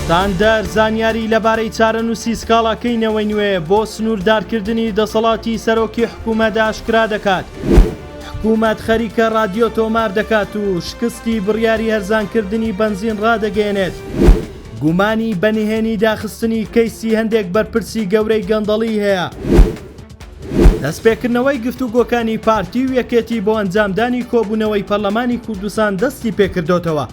ستاندەر زانیاری لەبارەی چارەنووسی سکاڵاکەی نەوەی نوێ بۆ سنووردارکردنی دەسەڵاتی سەرۆکی حکوومەت ئاشکرا دەکات، حکوومەت خەریکە ڕادیۆ تۆمار دەکات و شکستی بڕیاری هەرزانکردنی بەنزین ڕادەگەیەنێت. گومانی بە نهێنی داخستنی کەیسی هەندێک بەرپرسی گەورەی گەندەڵی هەیە. دەستپێکردنەوەی گفتوگۆکانی پارتی و یەکێتی بۆ ئەنجامدانی کۆبوونەوەی پەرلەمانی کوردستان دەستیپێکردۆتەوە.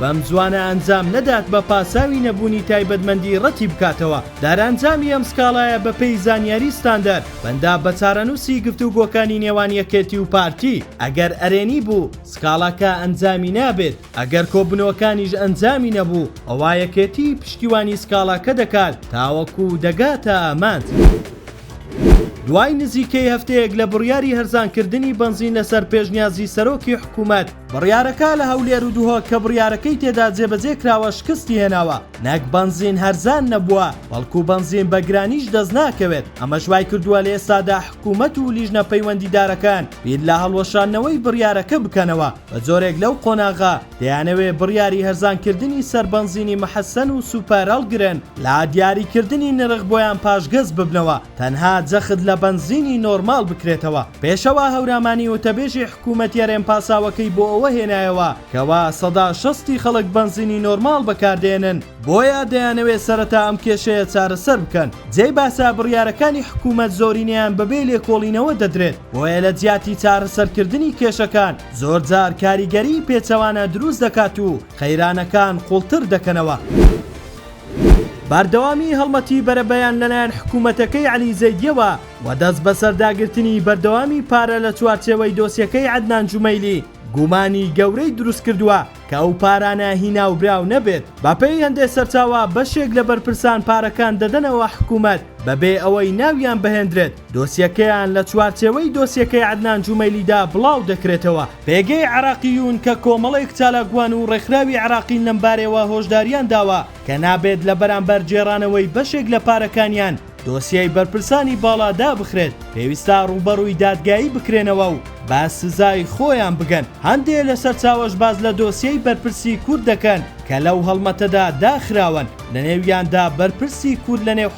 بەم زووانە ئەنجام نەدات بە پاساوی نەبوونی تایبەتمەندی ڕەتی بکاتەوە دارئەنجامی ئەم سکاڵایە بە پێی زانیاری ستاندەر بەندە بە چارەنووسی گفتوگۆکانی نێوان یەکێتی و پارتی ئەگەر ئەرێنی بوو سکاڵاکە ئەنجامی نابێت ئەگەر کۆبنەوەکانیش ئەنجامی نەبوو ئەوا یەکێتی پشتیوانی سکاڵاکە دەکات تاوەکو دەگاتە ئامانج دوای نزیکەی هەفتەیەک لە بڕیاری هەرزانکردنی بەنزین لەسەر پێشنیازی سەرۆکی حکوومەت، بڕیارەکە لە هەولێر و دهۆک کە بڕیارەکەی تێدا جێبەجێ کراوە شکستی هێناوە، نەک بەنزین هەرزان نەبووە، بەڵکو بەنزین بە گرانیش دەست ناکەوێت، ئەمەش وای کردووە لە ئێستادا حکوومەت و لیژنە پەیوەندیدارەکان بیر لە هەڵوەشاندنەوەی بڕیارەکە بکەنەوە، بە جۆرێک لەو قۆناغە دەیانەوێ بڕیاری هەرزانکردنی سەر بەنزینی مەحەسەن و سوپەر هەڵگرن، لا دیاریکردنی نرخ بۆیان پاشگەز ببنەوە. تەنها جەخت لە بەنزینی نۆرماڵ بکرێتەوە. پێشەوا هەورامانی وتەبێژی حکوومەتیە رێن پاساوەکەی بۆ ئەوە هێنایەوە کەوا سەدا شەست ی خەڵک بەنزینی نۆرماڵ بەکاردێنن، بۆیە دەیانەوێت سەرەتا ئەم کێشەیە چارەسەر بکەن. جێی باسە بڕیارەکانی حکوومەت زۆرینەیان بەبێ لێکۆڵینەوە دەدرێت، بۆیە لە جیاتی چارەسەرکردنی کێشەکان زۆرجار کاریگەریی پێچەوانە دروست دەکات و قەیرانەکان قوڵتر دەکەنەوە. بەردەوامی هەڵمەتی بەرەبەیان لەلایەن حکوومەتەکەی عەلی زەیدییەوە و دەستبەسەرداگرتنی بەردەوامی پارە لە چوارچێوەی دۆسیەکەی عەدنان جومەیلی گومانی گەورەی دروست کردووە کە ئەو پارانە هی ناوبراو نەبێت، بەپێی هەندێک سەرچاوە بەشێک لە بەرپرسان پارەکان دەدەنەوە حکوومەت بەبێ ئەوەی ناویان بهێندرێت، دۆسیەکەیان لە چوارچێوەی دۆسیەکەی عەدنان جومەیلیدا بڵاو دەکرێتەوە. پێگەی عێراقیون کە کۆمەڵێک چالاکوان و ڕێکخراوی عێراقین لەمبارەیەوە هۆشداریان داوە کە نابێت لە بەرامبەر گێڕانەوەی بەشێک لە پارەکانیان دۆسیەی بەرپرسانی باڵا دابخرێت پێویستە ڕووبەڕووی دادگایی بکرێنەوە و بە سزای خۆیان بگەن هەندێ لە سەرچاوەش باس لە دۆسیەی بەرپرسی کورد دەکەن کە لەو هەڵمەتەدا داخراون لەنێویاندا بەرپرسی کورد لەنێو